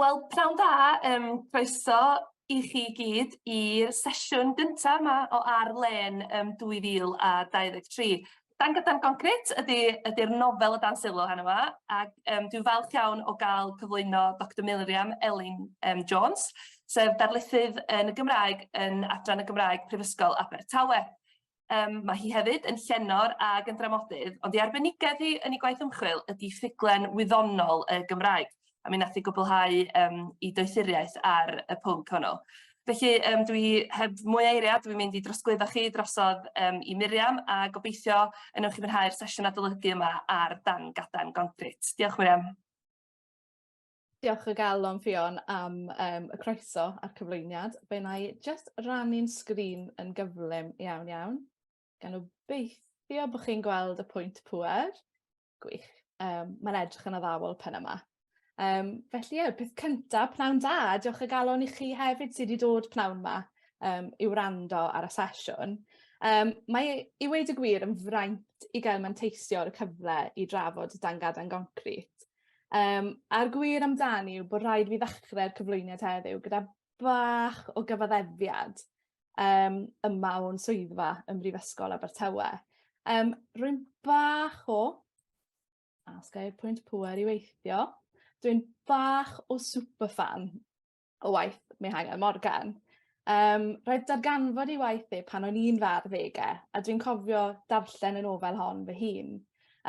Wel, pnawn da, yym croeso i chi i gyd i'r sesiwn gynta' 'ma o Ar Lên yym 2023. Dan Gydan Concrit ydi ydi'r nofel o dan sylw heno 'ma ac yym dwi'n falch iawn o ga'l cyflwyno Doctor Miriam Elin yym Jones sef darlithydd yn y Gymraeg yn Adran y Gymraeg Prifysgol Abertawe. Yym ma' hi hefyd yn llenor ag yn dramodydd ond 'i arbenigedd hi yn 'i gwaith ymchwil ydi ffuglen wyddonol y Gymraeg a mi nath 'i gwblhau yym 'i doethuriaeth ar y pwnc hwnnw. Felly yym dwi heb mwy o eiria dwi mynd i drosglwyddo chi drosodd yym i Miriam a gobeithio y newch chi fwynhau'r sesiwn adolygu yma ar dan gadarn gongrit. Diolch Miriam. Diolch o galon Ffion am um, y croeso a'r cyflwyniad. Fe na i just rannu'n sgrin yn gyflym iawn iawn. Gan obeithio bod chi'n gweld y pwynt pwer. Gwych. Um, Mae'n edrych yn addawol pen yma. Um, felly, ie, peth cyntaf, pnawn da, diolch y galon i chi hefyd sydd wedi dod pnawn yma um, i wrando ar y sesiwn. Um, mae i weid y gwir yn fraint i gael manteisio ar y cyfle i drafod dan gadan goncrit. Um, a'r gwir amdani yw bod rhaid fi ddechrau'r cyflwyniad heddiw gyda bach o gyfaddefiad um, yma o'n swyddfa ym Mhrifysgol Abertawe. Um, rwy'n bach o, a sgai'r pwynt pwer i weithio, dwi'n bach o superfan o waith Mihangel Morgan. Um, roedd darganfod i waith e pan o'n i'n far ddegau, a dwi'n cofio darllen y nofel hon fy hun.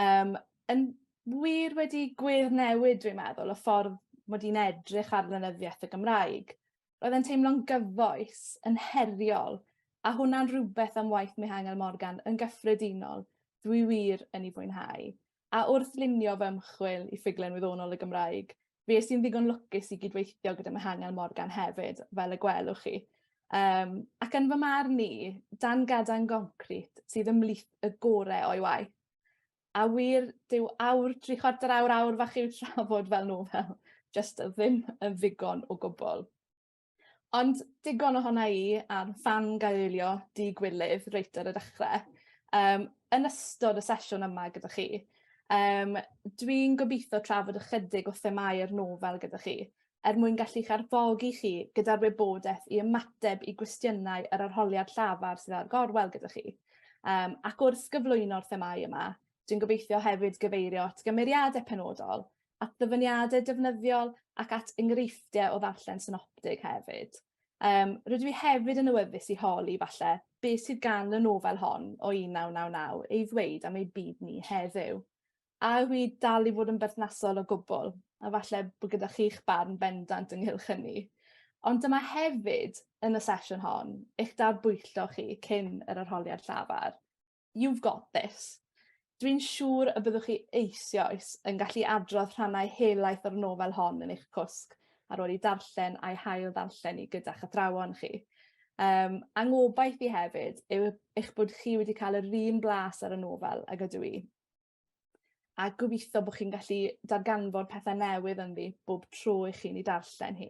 Um, yn wir wedi gwir newid, dwi'n meddwl, y ffordd mod i'n edrych ar lenyddiaeth y Gymraeg. Roedd e'n teimlo'n gyfoes, yn heriol, a hwnna'n rhywbeth am waith Mihangel Morgan yn gyffredinol, dwi wir yn ei fwynhau. a wrth lunio fy ymchwil i ffuglen wyddonol y Gymraeg, fi es i'n ddigon lwcus i gydweithio gyda Mihangel Morgan hefyd, fel y gwelwch chi. Um, ac yn fy marn ni, dan gadan goncrit sydd ymlith y gorau o'i waith. A wir, dyw awr, tri chwarter awr, awr fach i'w trafod fel nofel, just ddim yn ddigon o gwbl. Ond digon ohona i am fangioelio dŷ gwylidd reit ar y dechre. Yym yn ystod y sesiwn yma gyda chi yym dwi'n gobitho trafod ychydig o themâu'r nofel gyda chi er mwyn gallu'ch arfogi chi gyda'r wybodeth i ymateb i gwestiynau yr arholiad llafar sydd ar gorwel gyda chi. Yym ac wrth gyflwyno'r themâu yma dwi'n gobeithio hefyd gyfeirio at gymeriade penodol at ddyfyniadau defnyddiol ac at enghreifftiau o ddarllen synoptig hefyd. Um, rydw i hefyd yn awyddus i holi, falle, beth sydd gan y nofel hon o 1999 ei ddweud am ei byd ni heddiw. A yw i dal i fod yn berthnasol o gwbl, a falle bod gyda chi'ch barn bendant ynghylch hynny. Ond dyma hefyd, yn y sesiwn hon, eich darbwyllo chi cyn yr arholiad llafar. You've got this. Dwi'n siŵr y byddwch chi eisioes yn gallu adrodd rhannau helaeth o'r nofel hon yn eich cwsg ar ôl i darllen a'i hail ddarllen i gyda'ch athrawon chi. Um, angobaith i hefyd yw eich bod chi wedi cael yr un blas ar y nofel ag ydw i. a gobeithio bod chi'n gallu darganfod pethau newydd ynddi bob tro i chi'n ei darllen hi.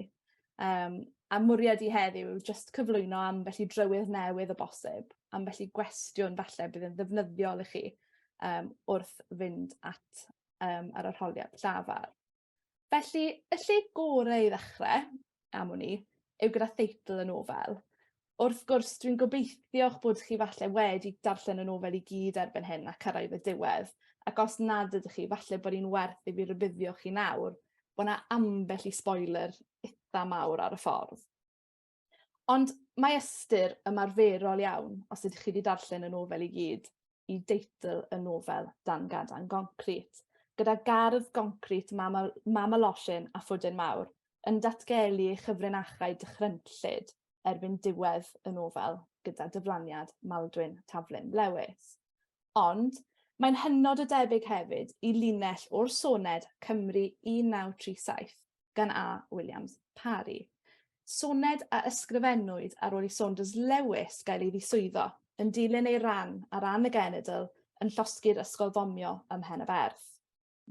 Um, a mwriad i heddiw yw just cyflwyno am felly drywydd newydd o bosib, am felly gwestiwn falle bydd yn ddefnyddiol i chi um, wrth fynd at um, yr arholiad llafar. Felly, y lle gorau i ddechrau, am wn i, yw gyda theitl y nofel. Wrth gwrs, dwi'n gobeithio eich bod chi falle wedi darllen y nofel i gyd erbyn hyn ac cyrraedd y diwedd, ac os nad ydych chi, falle bod hi'n werth i fi rybuddio chi nawr bod yna ambell i spoiler itha mawr ar y ffordd. Ond mae ystyr ymarferol iawn, os ydych chi wedi darllen y nofel i gyd, i deitl y nofel Dan Gadan Goncrit, gyda gardd goncrit mam, mam y losin a phwdin mawr yn datgelu ei chyfrinachau dychrynllyd erbyn diwedd y nofel gyda dyflaniad Maldwyn Taflyn Lewis. Ond mae'n hynod o debyg hefyd i linell o'r soned Cymru 1937, gan A. Williams Parry. Soned a ysgrifennwyd ar ôl i Saunders Lewis gael ei ddiswyddo, yn dilyn ei ran ar ran y genedl yn llosgi'r ysgol fomio ym Mhen y Berth.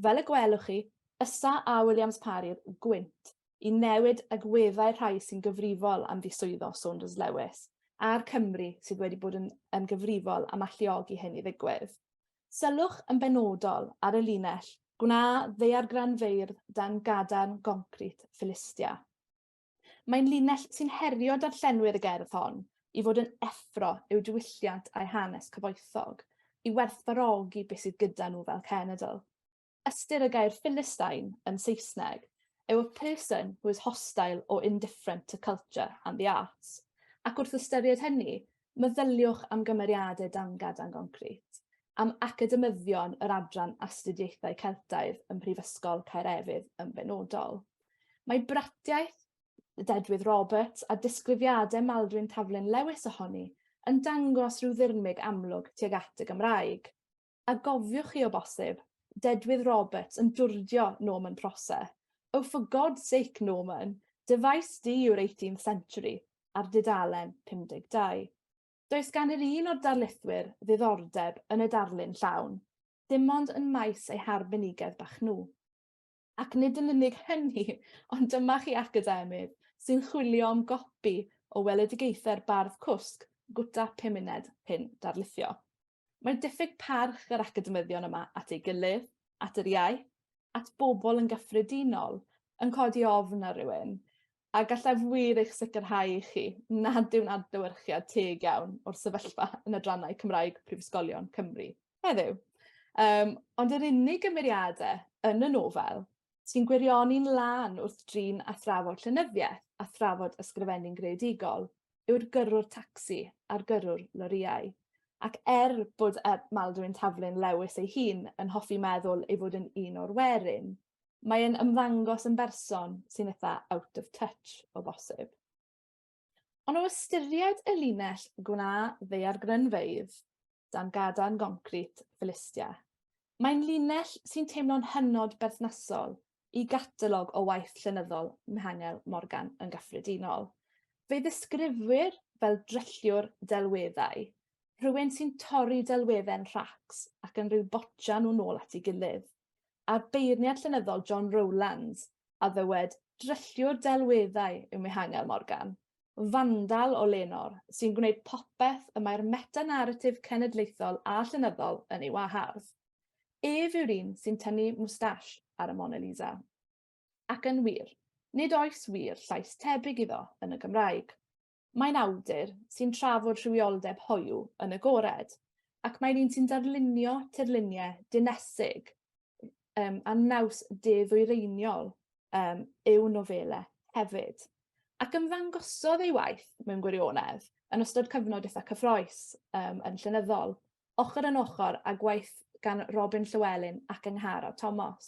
Fel y gwelwch chi, ysa A. Williams Parry'r gwynt i newid agweddau'r rhai sy'n gyfrifol am ddiswyddo Saunders Lewis a'r Cymry sydd wedi bod yn, yn gyfrifol am alluogi hyn i ddigwydd. Sylwch yn benodol ar y linell Gwna ddaeargranfeirdd dan gadarn goncrit Philistia. Mae'n linell sy'n herio darllenwyr y gerdd hon i fod yn effro i'w diwylliant a'u hanes cyfoethog, i werthfawrogi beth sydd gyda nhw fel cenedl. Ystyr y gair Philistine yn Saesneg yw 'a person who is hostile or indifferent to culture and the arts', ac wrth ystyried hynny, meddyliwch am gymeriadau dangad a goncrit, am academyddion yr Adran Astudiaethau Celtaidd ym Mhrifysgol Caerefydd yn benodol. Mae bratiaith dedwydd Roberts a disgrifiadau Maldwyn Taflen Lewis ohoni yn dangos rhyw ddirmyg amlwg tuag at y Gymraeg. A gofiwch chi o bosib, dedwydd Roberts yn dwrdio Norman Prosser, Oh for God's sake, Norman, dy faes di yw'r Eighteenth Century, ar dudalen 52. Does gan yr un o'r darlithwyr ddiddordeb yn y darlun llawn, dim ond yn maes eu harbenigedd bach nhw. Ac nid yn unig hynny, ond dyma chi academydd sy'n chwilio am gopi o weledigaethau'r bardd cwsg, gwta pumuned, pun darlithio. Mae diffyg parch yr academyddion yma at ei gilydd, at yr iaith, at bobl yn gyffredinol, yn codi ofn ar rywun, A gallaf wir eich sicrhau i chi nad yw'n adlewyrchiad teg iawn o'r sefyllfa yn adrannau Cymraeg prifysgolion Cymru heddiw. Um, ond yr unig gymeriade yn y nofel sy'n gwirioni'n lân wrth drin a thrafod llenyddiaeth a thrafod ysgrifennu'n greadigol yw'r gyrrwr tacsi a'r gyrrwr lorïau. Ac er bod Maldwyn Taflyn Lewis ei hun yn hoffi meddwl ei fod yn un o'r werin, mae e'n ymddangos yn berson sy'n eitha out of touch o bosib. Ond o ystyried y linell gwna ddeiargrynfeydd dan gadarn goncrit Philistia, mae'n linell sy'n teimlo'n hynod berthnasol i gatalog o waith llenyddol Mihangel Morgan yn gyffredinol. Fe ddisgrifwyr fel drylliwr delweddau, rhywun sy'n torri delwedde'n rhacs ac yn rhyw botio nhw'n ôl at ei gilydd. a beirniad llenyddol John Rowlands a ddywed drylliwr delweddau yw Mihangel Morgan, fandal o lenor sy'n gwneud popeth y mae'r meta-naratif cenedlaethol a llenyddol yn ei wahardd. Ef yw'r un sy'n tynnu mwstash ar y Mona Lisa. Ac yn wir, nid oes wir llais tebyg iddo yn y Gymraeg. Mae'n awdur sy'n trafod rhywioldeb hoyw yn agored, ac mae'n un sy'n darlunio tirluniau dinesig um, a naws de-ddwyreiniol um, i'w nofelau hefyd, ac ymddangosodd ei waith mewn gwirionedd yn ystod cyfnod eitha cyffroes um, yn llenyddol. ochr yn ochr â gwaith gan Robin Llywelyn ac Angharad Tomos,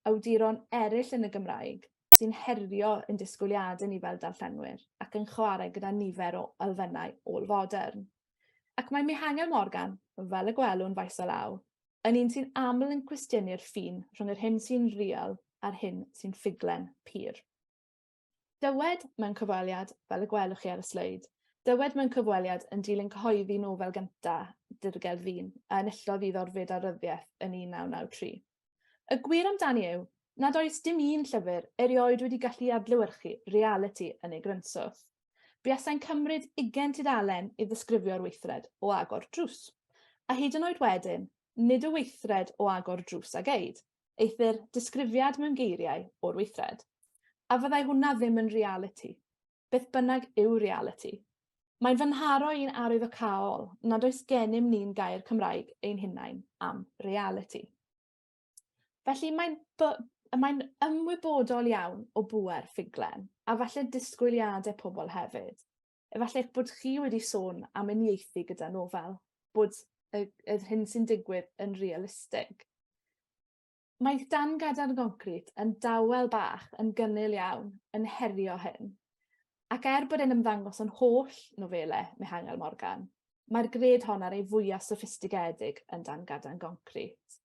awduron eraill yn y Gymraeg sy'n herio ein disgwyliadau ni fel darllenwyr ac yn chwarae gyda nifer o elfennau ôl-fodern. Ac mae Mihangel Morgan, fel y gwelwn faes o law, yn un sy'n aml yn cwestiynu'r ffin rhwng yr hyn sy'n real a'r hyn sy'n ffuglen pur. Dywed mewn cyfweliad, fel y gwelwch chi ar y sleid, dywed mewn cyfweliad yn dilyn cyhoeddi nofel gynta Dirgel Ddyn a enillodd iddo rfyd a ryddiaith yn 1993. Y gwir amdani yw nad oes dim un llyfr erioed wedi gallu adlewyrchu realiti yn ei grynswth. Buasai'n cymryd ugain tudalen i ddisgrifio'r weithred o agor drws. A hyd yn oed wedyn, nid y weithred o agor drws a geid, eithr disgrifiad mewn geiriau o'r weithred. A fyddai hwnna ddim yn realiti? Beth bynnag yw realiti. Mae'n fy nharo i'n arwyddocaol nad oes gennym ni'n gair Cymraeg ein hunain am realiti. Felly mae'n mae ymwybodol iawn o bŵer ffuglen, a falle disgwyliadau pobl hefyd. Efallai eich bod chi wedi sôn am uniaethu gyda nofel, bod y, y hyn sy'n digwydd yn realistig. Mae dan gadarn goncrit yn dawel bach yn gynnil iawn yn herio hyn. Ac er bod e'n ymddangos yn holl nofele Mihangel Morgan, mae'r gred hon ar ei fwyaf soffistigedig yn dan gadarn goncrit.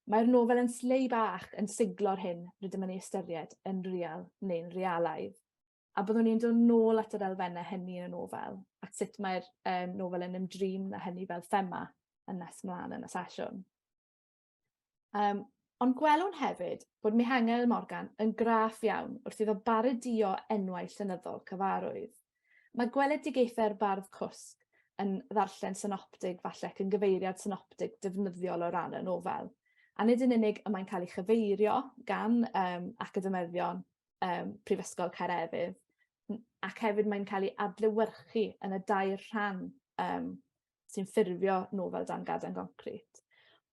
Mae'r nofel yn slei bach yn siglo'r hyn rydym yn ei ystyried yn real neu'n realaidd. A byddwn ni'n dod nôl at yr elfennau hynny yn y nofel, at sut mae'r um, nofel yn ymdrin na hynny fel thema yn nes mlaen yn y sesiwn. Um, ond gwelwn hefyd bod Mihangel Morgan yn graff iawn wrth iddo baredio enwau llenyddol cyfarwydd. Mae gweledigaethau'r bardd cwsg yn ddarllen synoptig falle ac yn gyfeiriad synoptig defnyddiol o ran y nofel. A nid yn unig y mae'n cael ei chyfeirio gan um, academyddion um, Prifysgol Caerefydd, ac hefyd mae'n cael ei adlewyrchu yn y dair rhan um, sy'n ffurfio nofel dan gadan goncrit.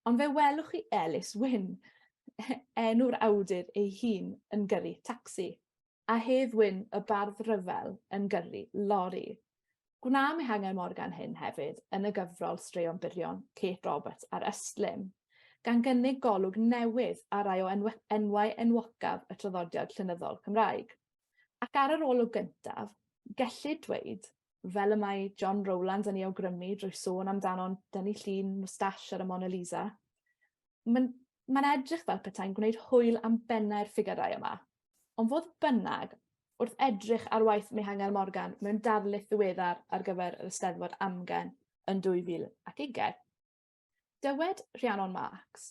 Ond fe welwch chi Elis Wyn, enw'r awdur ei hun yn gyrru tacsi, a Hedd Wyn y bardd rhyfel yn gyrru lori. Gwna Mihangel Morgan hyn hefyd yn y gyfrol Straeon Byrion, Kate Roberts a'r Ystlum, gan gynnig golwg newydd ar rai o enw enwau enwocaf y traddodiad llenyddol Cymraeg. Ac ar yr olwg gyntaf, gellid dweud, fel y mae John Rowlands yn ei awgrymu drwy sôn amdano'n dynnu llun moustache ar y Mona Lisa, mae'n mae'n edrych fel petai'n gwneud hwyl am bennau'r ffigyrau yma, Ond fodd bynnag, wrth edrych ar waith Mihangel Morgan mewn darlith ddiweddar ar gyfer yr Eisteddfod Amgen yn 2020, dywed Rhiannon Marx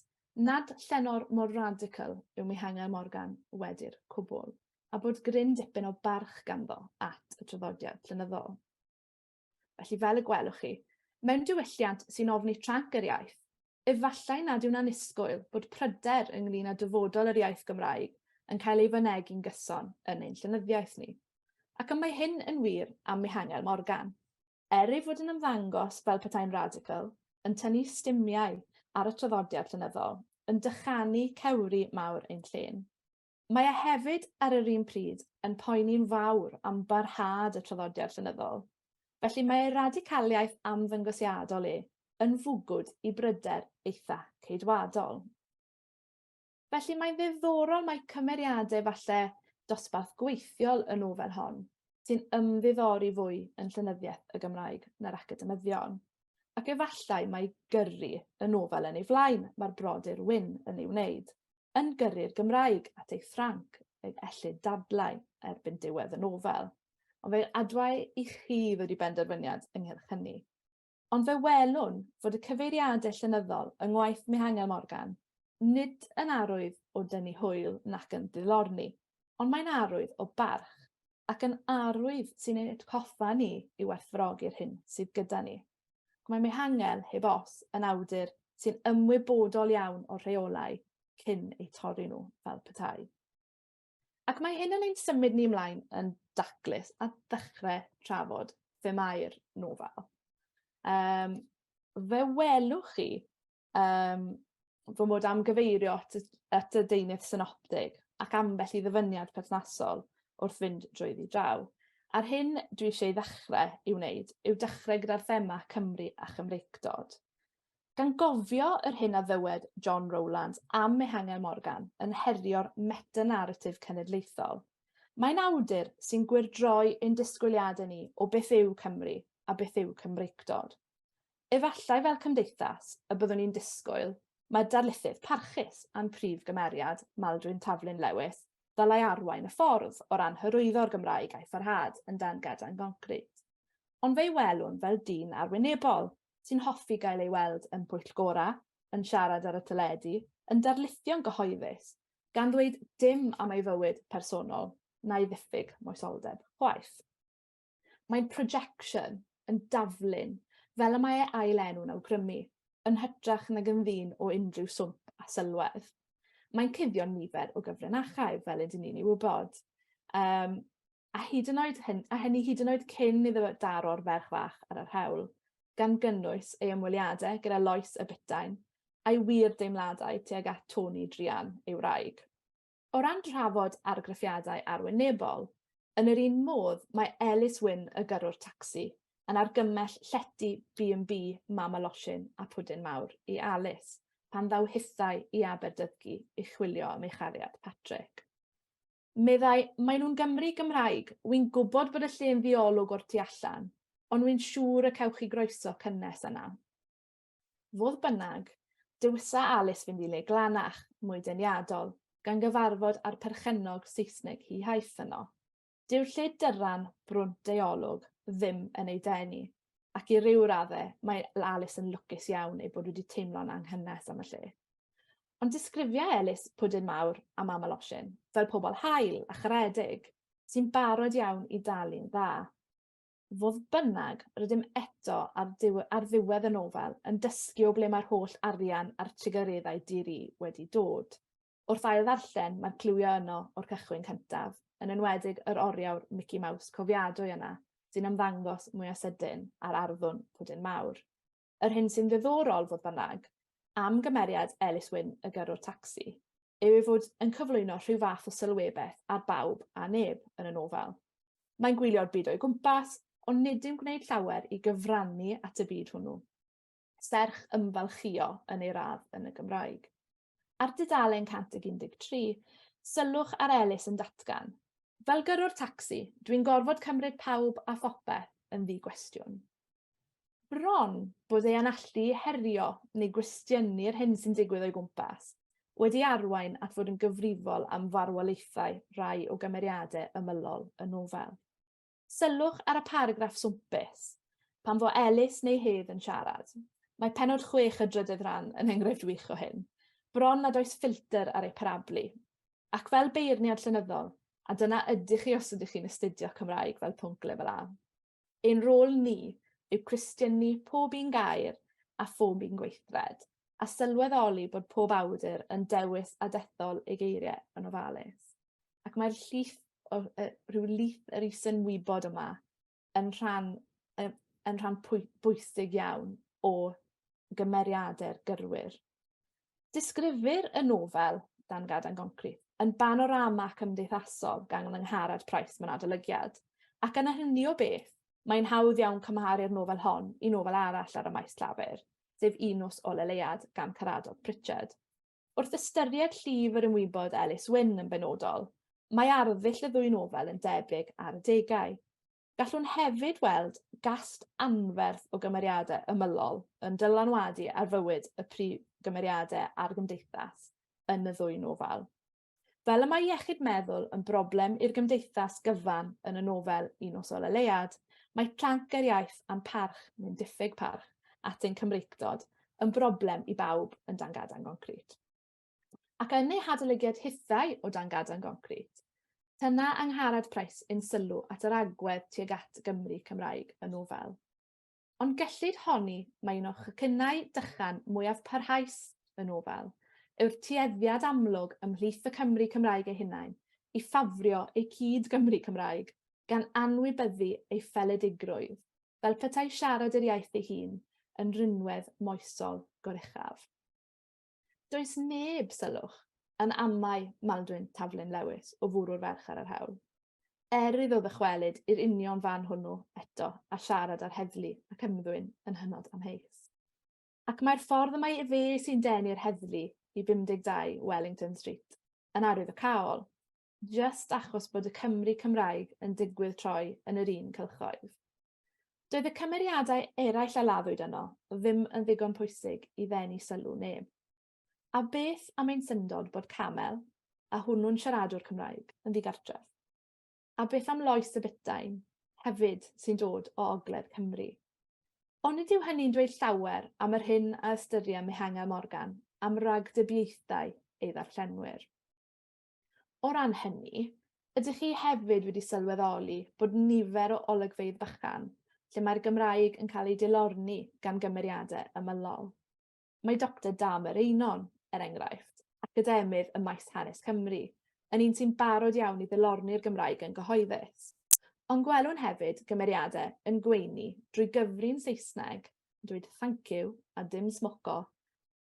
nad llenor mor radical yw Mihangel Morgan wedi'r cwbl, a bod gryn dipyn o barch ganddo at y traddodiad llenyddol. Felly fel y gwelwch chi, mewn diwylliant sy'n ofni tranc yr iaith, efallai nad yw'n annisgwyl bod pryder ynglŷn â dyfodol yr iaith Gymraeg yn cael ei fynegi'n gyson yn ein llenyddiaeth ni. Ac y mae hyn yn wir am Mihangel Morgan. Er ei fod yn ymddangos fel petai'n radical, yn tynnu stumiau ar y traddodiad llenyddol, yn dychanu cewri mawr ein llên. Mae e hefyd, ar yr un pryd, yn poeni'n fawr am barhad y traddodiad llenyddol. Felly mae ei radicaliaeth amddangosiadol e yn fwgwd i bryder eitha Ceidwadol. Felly mae'n ddiddorol mai cymeriadau falle dosbarth gweithiol y nofel hon sy'n ymddiddori fwy yn llenyddiaeth y Gymraeg na'r academyddion. Ac efallai mae gyrru y nofel yn ei flaen mae'r brodyr Wyn yn ei wneud. yn gyrru'r Gymraeg at ei Ffranc yn ellid dadlau erbyn diwedd y nofel, ond fe adwai i chi ddod i benderfyniad ynghylch hynny. Ond fe welwn fod y cyfeiriadau llenyddol yng ngwaith Mihangel Morgan nid yn arwydd o dynnu hwyl nac yn ddilorni, ond mae'n arwydd o barch, ac yn arwydd sy'n ein atgoffa ni i werthfawrogi'r hyn sydd gyda ni. Mae Mehangen, heb os, yn awdur sy'n ymwybodol iawn o'r rheolau cyn eu torri nhw fel petai. Ac mae hyn yn ein symud ni ymlaen yn daclus a ddechrau trafod themau'r nofel. Um, fe welwch chi yym fy mod am gyfeirio at y at y deunydd synoptig ac ambell i ddyfyniad perthnasol wrth fynd drwyddi draw. A'r hyn dwi eisiau ei ddechrau i'w wneud yw dechrau gyda'r thema Cymru a Chymreictod. Gan gofio yr hyn a ddywed John Rowlands am Mehangel Morgan yn herio'r meta-naratif cenedlaethol. Mae'n awdur sy'n gwyrdroi ein disgwyliadau ni o beth yw Cymru a beth yw Cymreictod. Efallai fel cymdeithas, y byddwn ni'n disgwyl, mae darlithydd parchus a'n prif gymeriad, Maldwyn Taflyn Lewis, ddylai arwain y ffordd o ran hyrwyddo'r Gymraeg a'i pharhad yn dan gadarn goncrit. Ond fe'i welwn fel dyn arwynebol, sy'n hoffi gael ei weld yn pwyllgorau, yn siarad ar y teledu, yn darlithio'n gyhoeddus, gan ddweud dim am ei fywyd personol, na'i ddiffyg moesoldeb chwaith. Mae'n projection yn daflun, fel y mae ei ail enw'n awgrymu, yn hytrach nag yn ddyn o unrhyw swmp a sylwedd. Mae'n cuddio'n nifer o gyfrinachau, fel ydyn ni'n ei wybod. Um, a hyd yn oed hyn, a hynny hyd yn oed cyn iddo daro'r ferch fach ar yr hewl, gan gynnwys ei ymweliadau gyda Lois y Bytain, a'i wir deimladau tuag at Tony Drian, ei wraig. O ran trafod argraffiadau arwynebol, yn yr un modd mae Ellis Wyn y gyrrwr tacsi yn argymell llety Bee and Bee Mama Losin a Pwdin Mawr i Alys pan ddaw hithau i Aberdydgu i chwilio am ei chariad Patrick. Meddai, Maen nhw'n Gymry Gymraeg, wi'n gwybod bod y lle'n ddiolwg o'r tu allan, ond wi'n siŵr y cewch chi groeso cynnes yna. Fodd bynnag, dywisa Alice fynd i le glanach, mwy deniadol, gan gyfarfod â'r perchennog Saesneg hi haeth yno. Dyw lle dyran, brwnt ei olwg, ddim yn ei denu, ac i ryw radde, mae Alice yn lwcus iawn ei bod wedi teimlo'n anghynnes am y lle. Ond disgrifia Elis pwdin mawr a mam losin fel pobl hael a charedig sy'n barod iawn i dalu'n dda. Fodd bynnag, rydym eto ar, ar ddiwedd y nofel yn dysgu o ble mae'r holl arian a'r trugareddau di-ri wedi dod. Wrth ail ddarllen, mae'r cliwiau yno o'r cychwyn cyntaf, yn enwedig yr oriawr Mickey Mouse cofiadwy yna, sy'n ymddangos mwyaf sydyn, a'r arddwn pwdin mawr. Yr hyn sy'n ddiddorol, fodd bynnag, am gymeriad Ellis Wyn y gyrrwr tacsi, yw ei fod yn cyflwyno rhyw fath o sylwebeth ar bawb a neb yn y nofel. Mae'n gwylio'r byd o'i gwmpas, ond nid yw'n gwneud llawer i gyfrannu at y byd hwnnw, serch ymfalchïo yn ei radd yn y Gymraeg. Ar dudalen 113, sylwch ar Ellis yn datgan, Fel gyrrwr tacsi, dwi'n gorfod cymryd pawb a phopeth yn ddi-gwestiwn. Bron bod ei anallu i herio neu gwestiynu'r hyn sy'n digwydd o'i gwmpas wedi arwain at fod yn gyfrifol am farwolaethau rhai o gymeriadau ymylol y nofel. Sylwch ar y paragraff swmpus, pan fo Elis neu Hedd yn siarad. Mae penod chwech y drydedd rhan yn enghraifft wych o hyn. Bron nad oes ffilter ar ei parablu. Ac fel beirniad llenyddol, a dyna ydych chi os ydych chi'n astudio Cymraeg fel pwnc lefel A. Ein rôl ni yw cwestiynu pob un gair a phob un gweithred, a sylweddoli bod pob awdur yn dewis a dethol ei geiriau yn ofalus. Ac mae'r llif, o, uh, rhyw lith yr isynwybod yma yn rhan, uh, yn rhan pwy, bwysig iawn o gymeriadau'r gyrwyr. Disgrifir y nofel, Dan Gad A'n Goncrit, yn banorama cymdeithasol gan Lyngharad Price mewn adolygiad, ac yna hynny o beth, mae'n hawdd iawn cymharu'r nofel hon i nofel arall ar y maes llafur, sef Un Nos o Leuad gan Caradog Pritchard. Wrth ystyried llif yr ymwybod Elis Wyn yn benodol, mae arddull y ddwy nofel yn debyg ar adegau. Gallwn hefyd weld gast anferth o gymeriadau ymylol yn dylanwadu ar fywyd y prif gymeriadau a'r gymdeithas yn y ddwy nofel. Fel y mae iechyd meddwl yn broblem i'r gymdeithas gyfan yn y nofel Un Nos Ôl y Leuad, mae planc yr iaith a'n parch, neu'n diffyg parch, at ein Cymreictod yn broblem i bawb yn Dan Gadan Goncrit. ac yn ei hadolygiad hithau o dan gadarn goncrit, tyna Angharad Price yn sylw at yr agwedd tuag at Gymru Cymraeg y nofel. Ond gellid honni mai un o chacynnau dychan mwyaf parhaus y nofel yw'r tueddiad amlwg ymhlith y Cymry Cymraeg eu hunain i ffafrio eu cyd Gymry Cymraeg gan anwybyddu ei pheledigrwydd, fel petai siarad yr iaith ei hun yn rinwedd moesol goruchaf. Does neb, sylwch, yn amau Maldwyn Taflin Lewis o fwrw'r ferch ar yr hewl. Er iddo ddychwelyd i'r union fan hwnnw eto a siarad ar heddlu ac ymddwyn yn hynod amheus. Ac mae'r ffordd y mae efe sy'n denu'r heddlu i 52 Wellington Street yn arwydd y caol. jyst achos bod y Cymry Cymraeg yn digwydd troi yn yr un cylchoedd. Doedd y cymeriadau eraill a laddwyd yno ddim yn ddigon pwysig i ddenu sylw neb. A beth am ein syndod bod Camel, a hwnnw'n siaradwr Cymraeg, yn ddigartref? A beth am Lois y Bytain, hefyd, sy'n dod o ogledd Cymru? Ond nid yw hynny'n dweud llawer am yr hyn a ystyria Mihangel Morgan am ragdybiaethau ei ddarllenwyr. O ran hynny, ydych chi hefyd wedi sylweddoli bod nifer o olygfeydd bychan lle mae'r Gymraeg yn cael ei dilorni gan gymeriadau ymylol? Mae Doctor Damer Einon, er enghraifft, academydd ym maes hanes Cymru, yn un sy'n barod iawn i ddilorni'r Gymraeg yn gyhoeddus. Ond gwelwn hefyd gymeriadau yn gweini drwy gyfri'n Saesneg, yn dweud 'thank you' a 'dim smoco',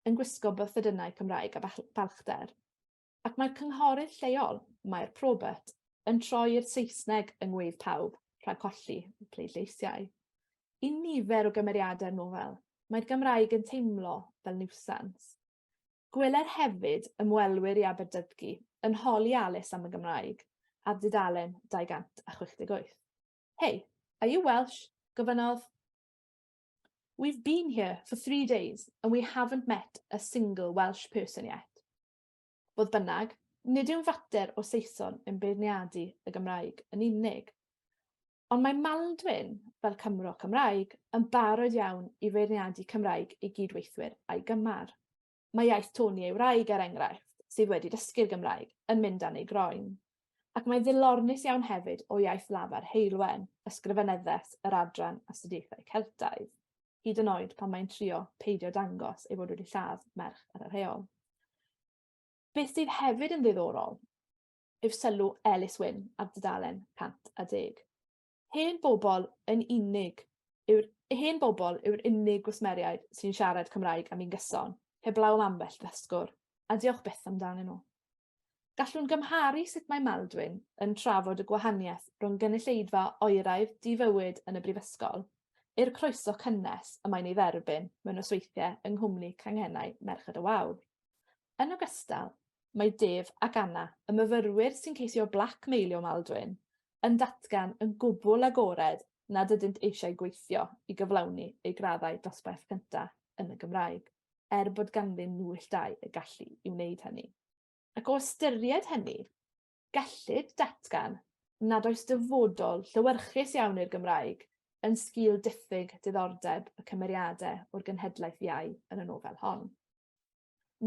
yn gwisgo bythydynau Cymraeg a balchder. Ac mae'r cynghorydd lleol, Mair Probert, yn troi i'r Saesneg yng ngweidd pawb, rhag colli y pleidleisiau. I nifer o gymeriadau'r nofel, mae'r Gymraeg yn teimlo fel niwsans. Gweler hefyd ymwelwyr i Aberdydgu yn holi Alice am y Gymraeg ar dudalen 268. Hey, are you Welsh? gofynnodd. We've been here for three days and we haven't met a single Welsh person yet. Fodd bynnag, nid yw'n fater o Saeson yn beirniadu y Gymraeg yn unig. Ond mae Maldwyn, fel Cymro Cymraeg, yn barod iawn i feirniadu Cymraeg ei gyd-weithwyr a'i gymar. Mae iaith Tony ei wraig, er enghraifft, sydd wedi dysgu'r Gymraeg, yn mynd dan ei groen. ac mae'n ddilornus iawn hefyd o iaith lafar Heulwen, ysgrifenyddes yr adran astudiaethau Celtaidd, hyd yn oed pan mae'n trio peidio dangos ei fod wedi lladd merch ar yr heol. Beth sydd hefyd yn ddiddorol yw sylw Elis Wyn ar dudalen 110. Hen bobl yn unig yw'r hen bobl yw'r unig gwsmeriaid sy'n siarad Cymraeg am un gyson, heblaw am ambell ddysgwr, a diolch byth amdanyn nhw. Gallwn gymharu sut mae Maldwyn yn trafod y gwahaniaeth rhwng gynulleidfa oeraidd di-fywyd yn y brifysgol, i'r croeso cynnes y mae'n ei dderbyn mewn nosweithiau yng nghwmni canghennau Merched y Wawr. Yn ogystal, mae Dave ac Anna, y myfyrwyr sy'n ceisio blac meilio Maldwyn, yn datgan yn gwbl agored nad ydynt eisiau gweithio i gyflawni eu graddau dosbarth cyntaf yn y Gymraeg, er bod ganddyn nhwylltau y gallu i wneud hynny. Ac o ystyried hynny, gellid datgan nad oes dyfodol llewyrchus iawn i'r Gymraeg yn sgîl diffyg diddordeb y cymeriadau o'r genhedlaeth iau yn y nofel hon.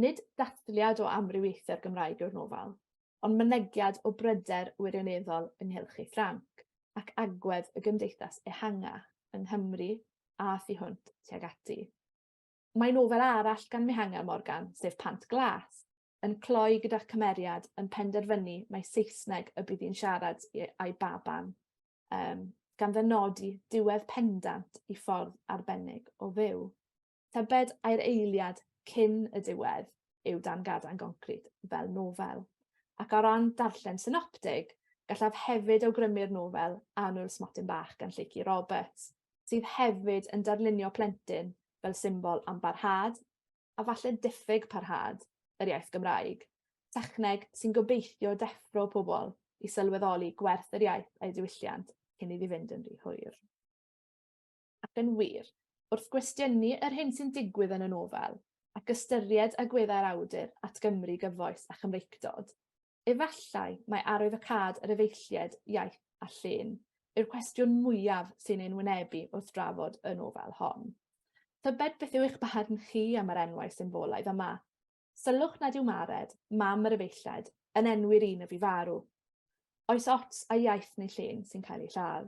Nid dathliad o amrywiaethu'r Gymraeg yw'r nofel, ond mynegiad o bryder wirioneddol ynghylch ei Ffrainc ac agwedd y gymdeithas ehangach yng Nghymru a thu hwnt tuag ati. Mae nofel arall gan Mihangel Morgan, sef Pant Glas, yn cloi gyda chymeriad yn penderfynu mai Saesneg y bydd hi'n siarad â'i baban, um, gan ddynodi diwedd pendant i ffordd arbennig o fyw. Tybed ai'r eiliad cyn y diwedd yw dan gadain goncrit fel nofel. Ac o ran darllen synoptig, gallaf hefyd awgrymu'r nofel Annwyl Smotyn Bach gan Lleucu Roberts, sydd hefyd yn darlunio plentyn fel symbol am barhad, a falle diffyg parhad, yr iaith Gymraeg, techneg sy'n gobeithio deffro pobl i sylweddoli gwerth yr iaith a'i diwylliant cyn iddi fynd yn rhy hwyr. Ac yn wir, wrth gwestiynu yr hyn sy'n digwydd yn y nofel, ac ystyried agweddau'r awdur at Gymru gyfoes a Chymreictod, efallai mai arwyddocâd yr efeilliaid iaith a llên yw'r cwestiwn mwyaf sy'n ein wynebu wrth drafod y nofel hon. Tybed beth yw eich barn chi am yr enwau symbolaidd yma? Sylwch nad yw Mared, mam yr efeilliaid, yn enwi'r un y fu farw. Oes ots a iaith neu llên sy'n cael ei lladd?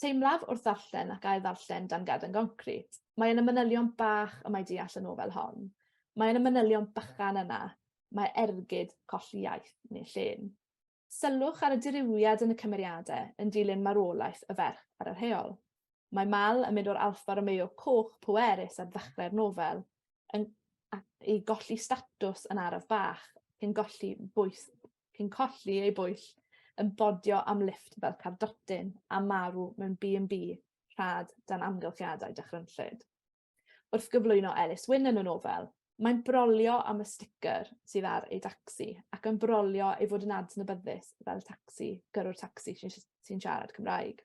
Teimlaf wrth ddarllen ac ail-ddarllen Dan Garden Goncrit. Mae yna manylion bach y mae deall y nofel hon. Mae yna manylion bychan yna. Mae ergyd colli iaith neu llên. Sylwch ar y dirywiad yn y cymeriadau yn dilyn marwolaeth y ferch ar yr heol. Mae Mal yn mynd o'r Alfa Romeo coch pwerus ar ddechrau'r nofel yn i golli statws yn araf bach, yn golli bwys cyn colli ei bwyll yn bodio am lifft fel cardotyn a marw mewn B&B rhad dan amgylchiadau dychrynllyd. Wrth gyflwyno Elis Wyn yn y nofel, mae'n brolio am y sticker sydd ar ei dacsi ac yn brolio ei fod yn adnabyddus fel tacsi, gyrrwr tacsi sy'n siarad Cymraeg.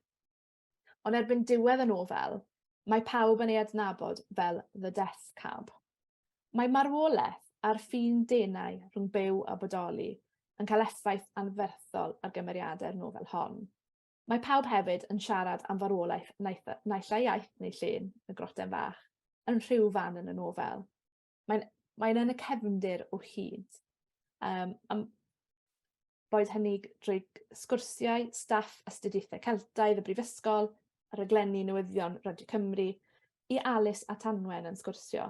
Ond erbyn diwedd y nofel, mae pawb yn ei adnabod fel The Death Cab. Mae marwolaeth a'r ffin denau rhwng byw a bodoli yn cael effaith anferthol ar gymeriadau'r nofel hon. Mae pawb hefyd yn siarad am farwolaeth naill ai iaith neu llun y groten fach, yn rhyw fan yn y nofel. mae'n mae'n yn y cefndir o hyd. Um, am, boed hynny drwy sgwrsiau, staff astudiaethau Celtaidd y Brifysgol, a rhaglenni newyddion Radio Cymru, i Alys a Tanwen yn sgwrsio.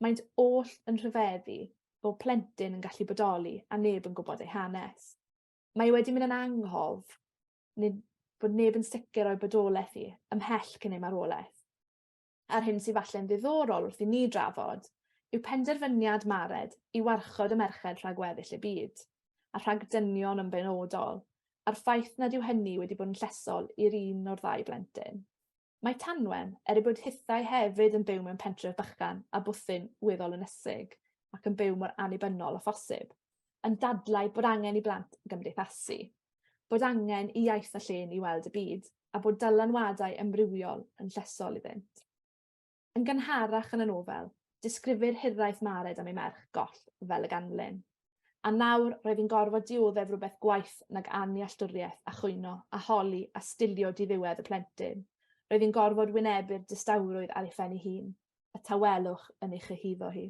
Mae'n oll yn rhyfeddu o plentyn yn gallu bodoli a neb yn gwybod ei hanes. Mae wedi mynd yn anghof nid bod neb yn sicr o'i bodolaeth hi, ymhell cyn ei marwolaeth. a'r hyn sydd falle'n ddiddorol wrth i ni drafod yw penderfyniad Mared i warchod y merched rhag weddill y byd, a rhag dynion yn benodol, a'r ffaith nad yw hynny wedi bod yn llesol i'r un o'r ddau blentyn. Mae Tanwen, er ei bod hithau hefyd yn byw mewn pentref bychan a bwthyn weddol ynysig, ac yn byw mor annibynnol â phosib. yn dadlau bod angen i blant gymdeithasu, bod angen i iaith a llên i weld y byd, a bod dylanwadau ymrywiol yn llesol iddynt. Yn gynharach yn y nofel, disgrifir hiraeth Mared am ei merch goll fel y ganlyn. A nawr roedd hi'n gorfod dioddef rhywbeth gwaith nag annealltwriaeth a chwyno a holi a stilio diddiwedd y plentyn. Roedd hi'n gorfod wynebu'r distawrwydd ar ei phen ei hun, y tawelwch yn ei chyhuddo hi.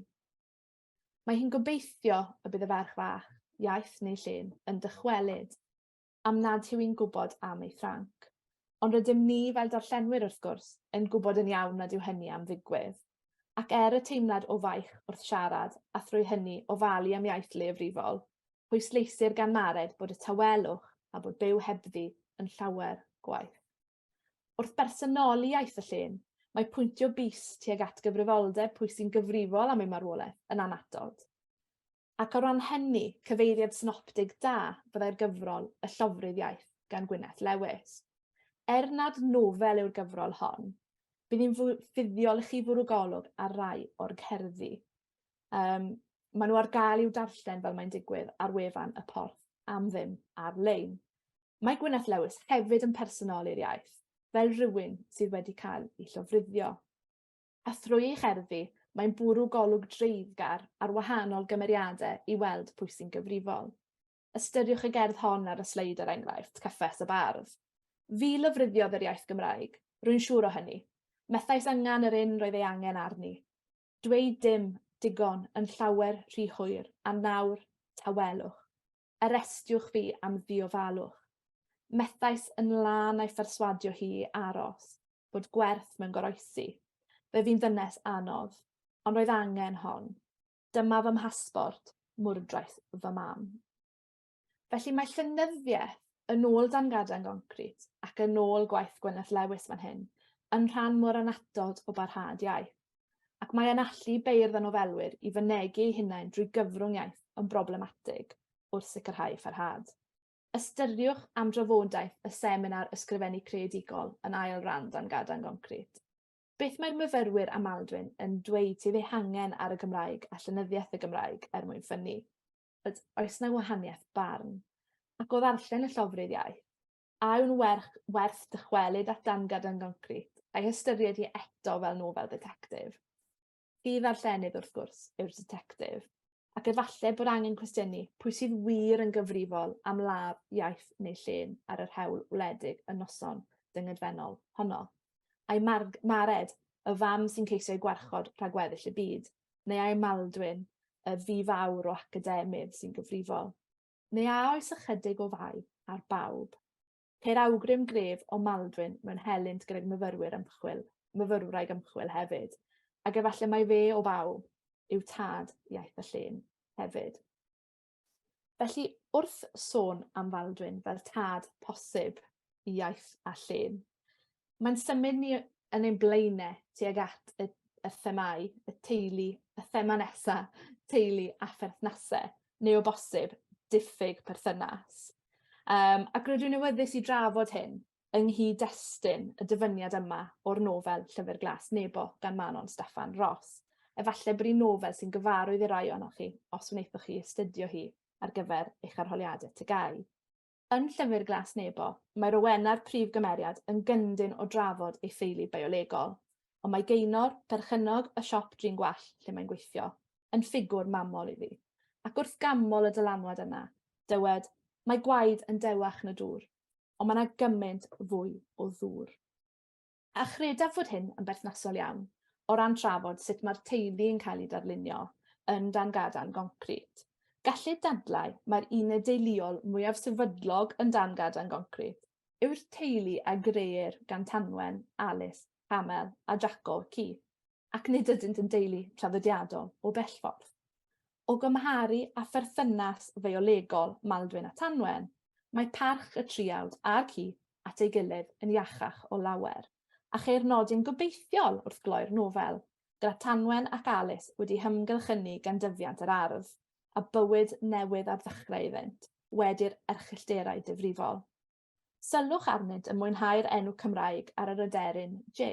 Mae hi'n gobeithio y bydd y ferch fach, iaith neu llun, yn dychwelyd, am nad yw hi'n gwybod am ei Ffranc. Ond rydym ni, fel darllenwyr wrth gwrs, yn gwybod yn iawn nad yw hynny am ddigwydd. Ac er y teimlad o faich wrth siarad, a thrwy hynny ofalu am iaith leiafrifol, pwysleisir gan Mared bod y tawelwch a bod byw hebddi yn llawer gwaeth. Wrth bersonoli iaith y llên, mae pwyntio bys tuag at gyfrifoldeb pwy sy'n gyfrifol am ei marwolaeth yn anatod. Ac o ran hynny, cyfeiriad synoptig da fyddai'r gyfrol Y Llofrudd Iaith gan Gwyneth Lewis. Er nad nofel yw'r gyfrol hon, bydd hi'n fuddiol i chi fwrw golwg ar rai o'r cerddi. Um, maen nhw ar gael i'w darllen fel mae'n digwydd ar wefan y porth am ddim ar-lein. Mae Gwyneth Lewis hefyd yn personol i'r iaith, fel rhywun sydd wedi cael ei llofruddio. A thrwy ei cherddi, mae'n bwrw golwg dreiddgar ar wahanol gymeriadau i weld pwy sy'n gyfrifol. Ystyriwch y gerdd hon ar y sleid er enghraifft, Cyffes y Bardd. Fi lyfruddio yr iaith Gymraeg, rwy'n siŵr o hynny. Methais angen yr un roedd ei angen arni. Dweud dim, digon, yn llawer rhy hwyr, a nawr, tawelwch. Arestiwch fi am ddiofalwch. Methais yn lân a'i pherswadio hi i aros, bod gwerth mewn goroesi. Fe fi'n ddynes anodd, ond roedd angen hon. Dyma fy mhasbort, mwrdraeth fy mam. Felly mae llenyddiaeth, yn ôl Dan Gaden Goncrit ac yn ôl gwaith Gwyneth Lewis fan hyn, yn rhan mor annatod o barhad iaith, ac mae e'n allu beirdd a nofelwyr i fynegi eu hunain drwy gyfrwng iaith yn broblematig wrth sicrhau parhad. Ystyriwch am drafodaeth y seminar Ysgrifennu Creadigol yn ail ran Dan Gaden Goncrit. Beth mae'r myfyrwyr a Maldwyn yn dweud sydd eu hangen ar y Gymraeg a llenyddiaeth y Gymraeg er mwyn ffynnu? Yd, oes na wahaniaeth barn? Ac o ddarllen y llofrudd iaith, a yw'n werth, werth dychwelyd at dangad yn goncrit, a'i hystyried hi eto fel nofel detectif? Fi ddarllenydd wrth gwrs yw'r detectif, ac efallai bod angen cwestiynu pwy sydd wir yn gyfrifol am law, iaith neu llên ar yr hewl wledig y noson dyngedfennol honno. A'i mared y fam sy'n ceisio ei gwarchod rhag weddill y byd, neu ai Maldwyn, y fi fawr o academydd, sy'n gyfrifol? Neu a oes ychydig o fai ar bawb? Ceir awgrym gref o Maldwyn mewn helynt gydag myfyrwyr ymchwil, myfyrwraig ymchwil hefyd, ac efallai mai fe o bawb yw tad iaith y llun hefyd. Felly, wrth sôn am Faldwyn fel tad posib i iaith a llun, mae'n symud ni yn ein blaenau tuag at y, y themau, y teulu, y thema nesa, teulu a pherthnasau, neu o bosib, diffyg perthynas. Um, ac rydw i'n awyddus i drafod hyn yng nghyd-destun y dyfyniad yma o'r nofel Llyfr Glas Nebo gan Manon Steffan Ros. Efallai bod hi'n nofel sy'n gyfarwydd i rai ohonoch chi os wnaethoch chi astudio hi ar gyfer eich arholiadau tygau. Yn Llyfr Glas Nebo, mae Rowena'r prif gymeriad yn gyndyn o drafod ei theulu biolegol, ond mae Gaenor, perchennog y siop drin gwallt lle mae'n gweithio, yn ffigwr mamol iddi. Ac wrth ganmol y dylanwad yna, dywed, Mae gwaed yn dewach na dŵr. ond mae yna gymaint fwy o ddŵr. A chredaf fod hyn yn berthnasol iawn o ran trafod sut mae'r teulu yn cael ei darlunio yn dan gadarn goncrit. Gallid dadlau mae'r uned deuluol mwyaf sefydlog yn dan gadarn goncrit yw'r teulu a greir gan Tanwen, Alice, Hamel a Jaco, Keith, ac nid ydynt yn deulu traddodiadol o bellffordd. o gymharu â pherthynas fiolegol Maldwyn a Tanwen, mae parch y triawd a'r ci at ei gilydd yn iachach o lawer, a cheir nodyn gobeithiol wrth gloi'r nofel, gyda Tanwen ac Alis wedi hymgylchynu gan dyfiant yr ardd, a bywyd newydd ar ddechrau iddynt, wedi'r erchyllterau difrifol. Sylwch arnynt yn mwynhau'r enw Cymraeg ar yr aderyn J,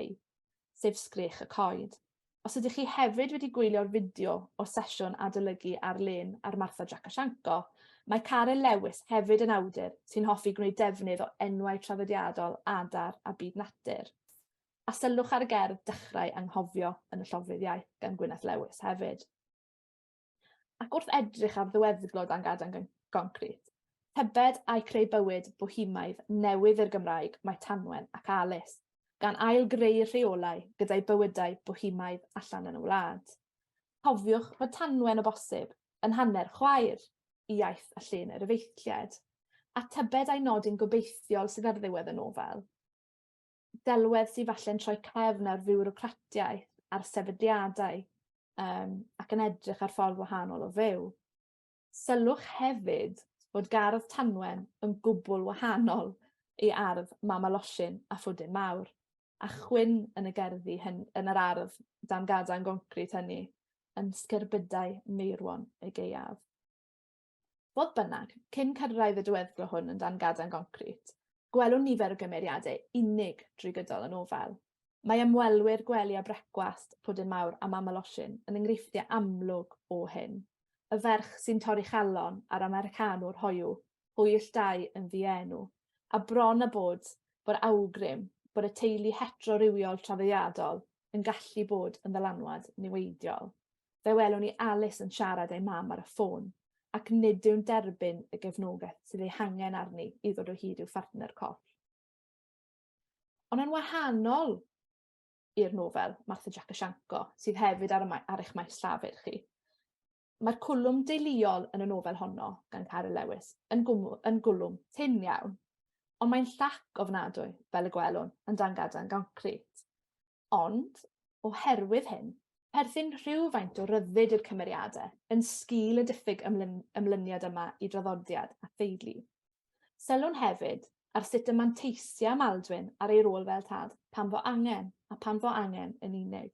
sef sgrech y coed. Os ydych chi hefyd wedi gwylio'r fideo o'r sesiwn adolygu ar-lein ar Martha Jakashenko, mae Caryl Lewis hefyd yn awdur sy'n hoffi gwneud defnydd o enwau traddodiadol adar a byd natur. A sylwch ar y gerdd Dechrau Anghofio yn y Llofruddiaeth gan Gwyneth Lewis hefyd. Ac wrth edrych ar ddiweddglo dan gadan goncrit, tybed ai creu bywyd bohemaidd newydd i'r Gymraeg mae Tanwen ac Alis, gan ail-greu'r rheolau gyda'i bywydau bohemaidd allan yn y wlad. Cofiwch fod Tanwen o bosib yn hanner chwaer i iaith a llun yr efeilliaid, a tybed ai nodyn gobeithiol sydd ar ddiwedd y nofel. delwedd sydd falle'n troi cefn ar fiwrocratiaeth, ar sefydliadau, um, ac yn edrych ar ffordd wahanol o fyw. Sylwch hefyd fod gardd Tanwen yn gwbl wahanol i ardd Mama Losin a Phwdin Mawr, a chwyn yn y gerddi hyn, yn yr ardd dan gada'n goncrit hynny, yn sgerbydau meirwon y geiaf. Fodd bynnag, cyn cyrraedd y diweddglo hwn yn dan gadarn goncrit, gwelwn nifer o gymeriadau unig drwy gydol y nofel. Mae ymwelwyr gwely a brecwast, Pwdin Mawr a Mam y Losin, yn enghreifftiau amlwg o hyn. Y ferch sy'n torri chalon a'r Americanwr hoyw, hwyll dau yn ddienw, a bron a bod bod awgrym bod y teulu heterorywiol traddodiadol yn gallu bod yn ddylanwad niweidiol. fe welwn i Alys yn siarad ei mam ar y ffôn, ac nid yw'n derbyn y gefnogaeth sydd ei hangen arni i ddod o hyd i'w phartner corff. Ond yn wahanol i'r nofel Martha Jack a Sianco, sydd hefyd ar, y ar eich maes llafur chi. Mae'r cwlwm deuluol yn y nofel honno, gan Caryl Lewis, yn, gwmw, yn gwlwm tyn iawn, ond mae'n llac ofnadwy, fel y gwelwn, yn dan gadan goncrit. Ond, oherwydd hyn, perthyn rhywfaint o ryddid i'r cymeriadau yn sgil y diffyg ymlyn, ymlyniad yma i draddodiad a theulu. Sylwn hefyd ar sut y manteisia Maldwyn ar ei rôl fel tad, pan fo angen, a pan fo angen yn unig.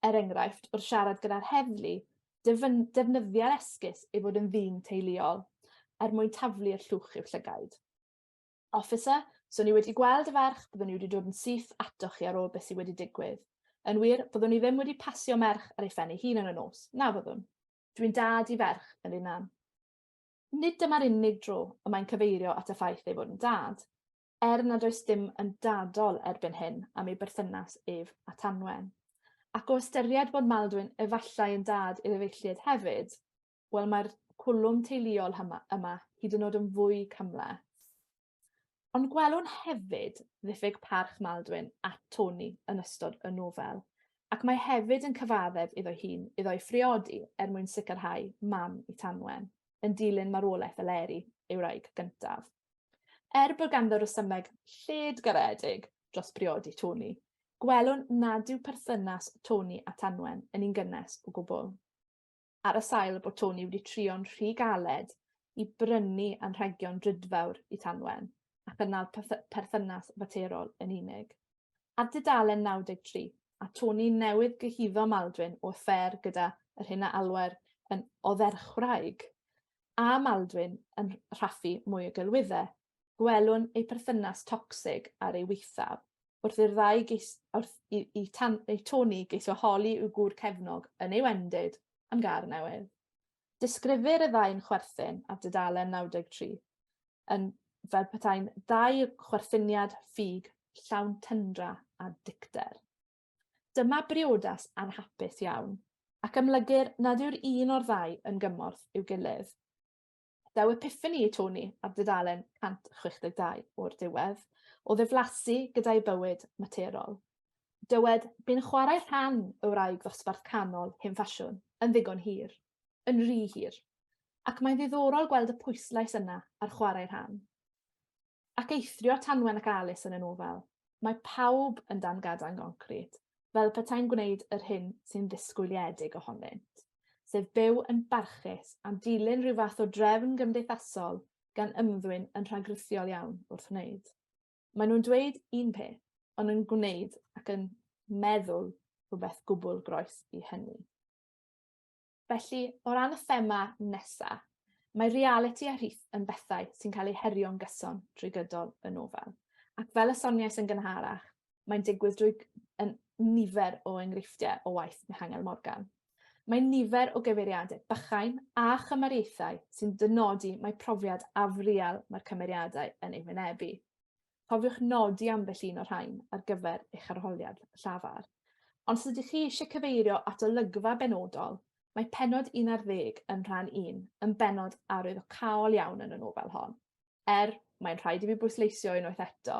Er enghraifft, wrth siarad gyda'r heddlu, defnyddia'r esgus ei fod yn ddyn teuluol, er mwyn taflu'r llwch i'w llygaid. Officer, so ni wedi gweld y ferch, byddwn ni wedi dod yn syth atoch chi ar ôl beth sydd wedi digwydd. Yn wir, byddwn ni ddim wedi pasio merch ar ei phen ei hun yn y nos, na fyddwn? Dwi'n dad i ferch, Elin Ann. Nid dyma'r unig dro y mae'n cyfeirio at y ffaith ei fod yn dad, er nad oes dim yn dadol erbyn hyn am ei berthynas ef a Tanwen. Ac o ystyried bod Maldwyn efallai yn dad i'r efeilliaid hefyd, wel mae'r cwlwm teuluol yma, yma hyd yn oed yn fwy cymhleth. Ond gwelwn hefyd ddiffyg parch Maldwyn at Tony yn ystod y nofel, ac mae hefyd yn cyfaddef iddo hun iddo'i phriodi er mwyn sicrhau mam i Tanwen, yn dilyn marwolaeth Eleri, ei wraig gyntaf. Er bod ganddo resymeg lled garedig dros briodi Tony, gwelwn nad yw perthynas Tony a Tanwen yn un gynnes o gwbl. ar y sail bod Tony wedi trio'n rhy galed i brynu anrhegion drudfawr i Tanwen, a chynnal perthynas faterol yn unig. Ar dudalen 93, a Tony newydd gyhuddo Maldwyn o affair gyda yr hyn a alwer yn odderchwraig, a Maldwyn yn rhaffu mwy o gelwyddau, gwelwn eu perthynas tocsig ar ei waethaf, wrth i'r ddau geis, wrth i, i, tan, i Tony geisio holi i'w gŵr cefnog yn ei wendid am gar newydd. Disgrifir y ddau'n chwerthin ar dudalen 93 yn fel petai'n ddau chwerthiniad ffug llawn tyndra a dicter. Dyma briodas anhapus iawn, ac amlygir nad yw'r un o'r ddau yn gymorth i'w gilydd. Daw epiffani i Tony ar dudalen 162 o'r diwedd, o ddiflasu gyda'i bywyd materol. Dywed, bu'n chwarae rhan y wraig ddosbarth canol hen ffasiwn yn ddigon hir, yn rhy hir, ac mae'n ddiddorol gweld y pwyslais yna ar chwarae rhan. Ac eithrio Tanwen ac Alys yn y nofel, mae pawb yn dan gadarn goncrit, fel petai'n gwneud yr hyn sy'n ddisgwyliedig ohonynt, sef byw yn barchus a dilyn rhyw fath o drefn gymdeithasol gan ymddwyn yn rhagrithiol iawn wrth wneud. Maen nhw'n dweud un peth, ond yn gwneud ac yn meddwl rhywbeth gwbl groes i hynny. Felly, o ran y thema nesaf, mae realiti a rhith yn bethau sy'n cael eu herio'n gyson drwy gydol y nofel. Ac fel y soniais yn gynharach, mae'n digwydd drwy yn nifer o enghreifftiau o waith Mihangel Morgan. Mae nifer o gyfeiriadau bychain a chymariaethau sy'n dynodi mae profiad afriel mae'r cymeriadau yn ei wynebu. Cofiwch nodi ambell un o'r rhain ar gyfer eich arholiad llafar. Ond os ydych chi eisiau cyfeirio at olygfa benodol, mae penod 11 yn rhan 1 yn benod arwyddocâol iawn yn y nofel hon. Er, mae'n rhaid i fi bwysleisio unwaith eto,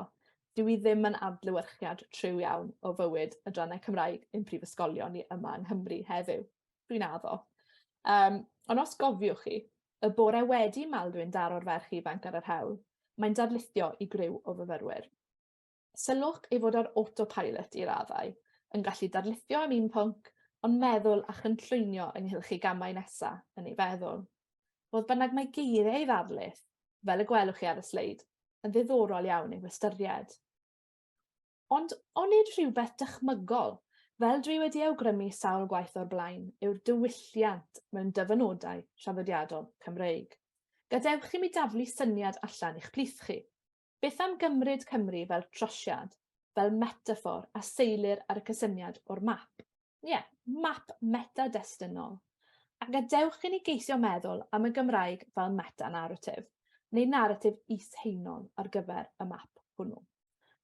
dyw i ddim yn adlewyrchiad tryw iawn o fywyd y drannau Cymraeg yn prifysgolion ni yma yng Nghymru heddiw. Dwi'n addo. Um, ond os gofiwch chi, Y bore wedi Maldwyn daro'r ferch ifanc ar yr hewl. Mae'n darlithio i griw o fyfyrwyr. Sylwch ei fod ar autopilot i raddau, yn gallu darlithio am un pwnc, ond meddwl a chynllwynio ynghylch ei gamau nesa yn ei feddwl. Fodd bynnag mae geiriau ei ddarlith, fel y gwelwch chi ar y sleid, yn ddiddorol iawn i'w hystyried. Ond onid rhywbeth dychmygol, fel dwi wedi awgrymu sawl gwaith o'r blaen, yw'r diwylliant mewn dyfynodau traddodiadol Cymreig? Gadewch i mi daflu syniad allan i'ch plith chi. Beth am gymryd Cymru fel trosiad, fel metaffôr a seilir ar y cysyniad o'r map? Ie, yeah, map meta-destunol. A gadewch i ni geisio meddwl am y Gymraeg fel meta-narratif, neu narratif is-heinol ar gyfer y map hwnnw.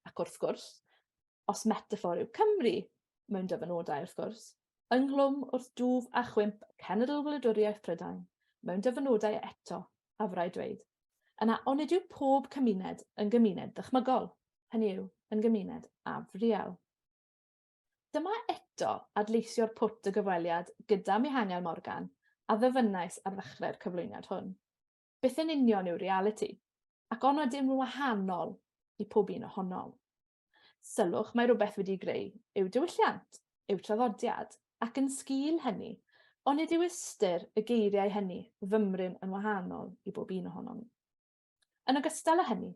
Ac wrth gwrs, os metafor yw Cymru, mewn dyfynodau wrth gwrs, ynghlwm wrth dwf a chwimp cenedl wladwriaeth Prydain, mewn dyfynodau eto, a fyrau dweud, yna onid yw pob cymuned yn gymuned ddychmygol, hynny yw, yn gymuned afriel. Dyma eto adleisio'r pwt y gyfweliad gyda Mihangel Morgan a ddyfynnais ar ddechrau'r cyflwyniad hwn. Beth yn union yw realiti? Ac on ydym yn wahanol i pob un ohonom? Sylwch mae rhywbeth wedi greu yw diwylliant, yw traddodiad, ac yn sgil hynny, onid yw ystyr y geiriau hynny fymryn yn wahanol i bob un ohonom? Yn ogystal â hynny,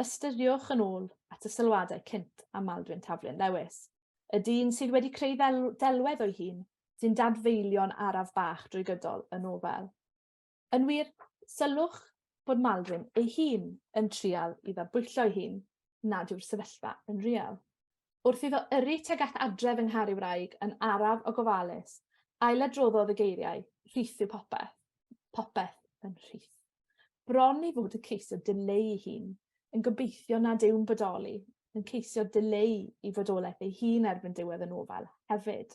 ystyriwch yn ôl at y sylwadau cynt am Maldwyn Taflyn Lewis, y dyn sydd wedi creu ddelwedd o'i hun sy'n dadfeilio'n araf bach drwy gydol y nofel. Yn wir, sylwch bod Maldwyn ei hun yn trial i ddadbwyllo'i hun nad yw'r sefyllfa yn real. Wrth iddo yrru tuag at adref yng nghar ei wraig yn araf o gofalus, ailadroddodd y geiriau, rhith yw popeth. Popeth yn rhith. Bron i fod y ceisiodd dileu ei hun, yn gobeithio nad yw'n bodoli, yn ceisio dileu i fodolaeth ei hun erbyn diwedd y nofel hefyd,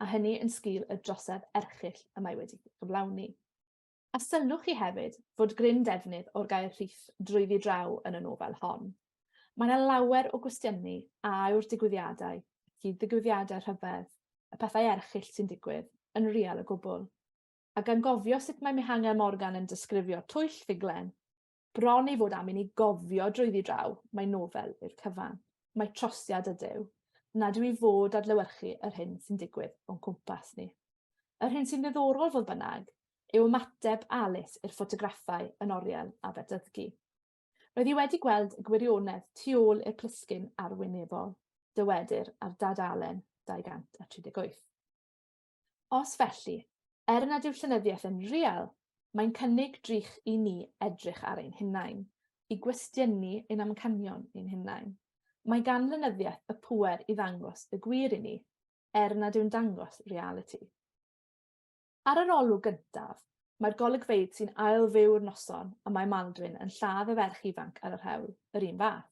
a hynny yn sgil y drosedd erchyll y mae wedi gyflawni. A sylwch chi hefyd fod gryn defnydd o'r gair rhith drwyddi draw yn y nofel hon. Mae yna lawer o gwestiynu a yw'r digwyddiadau, y cyd-ddigwyddiadau rhyfedd, y pethau erchyll sy'n digwydd, yn real o gwbl? Ac angofio sut mae Mihangel Morgan yn disgrifio twyll ffuglen, Bron ei fod am i ni gofio drwyddi draw mai nofel yw'r cyfan, mai trosiad ydyw, nad yw i fod adlewyrchu yr hyn sy'n digwydd o'n cwmpas ni. Yr hyn sy'n ddiddorol, fodd bynnag, yw ymateb Alice i'r ffotograffau yn oriel Aberdyddgu. Roedd hi wedi gweld y gwirionedd tu ôl i'r plisgyn arwynebol, dywedir ar Dad Allen 238. Os felly, er nad yw'r llenyddiaeth yn real, mae'n cynnig drych i ni edrych ar ein hunain, i gwestiynu ein amcanion ein hunain. Mae gan lenyddiaeth y pŵer i ddangos y gwir i ni, er nad yw'n dangos realiti. Ar yr olwg gyntaf, mae'r golygfeydd sy'n ail-fyw'r noson y mae Maldwyn yn lladd y ferch ifanc ar yr hewl, yr un fath.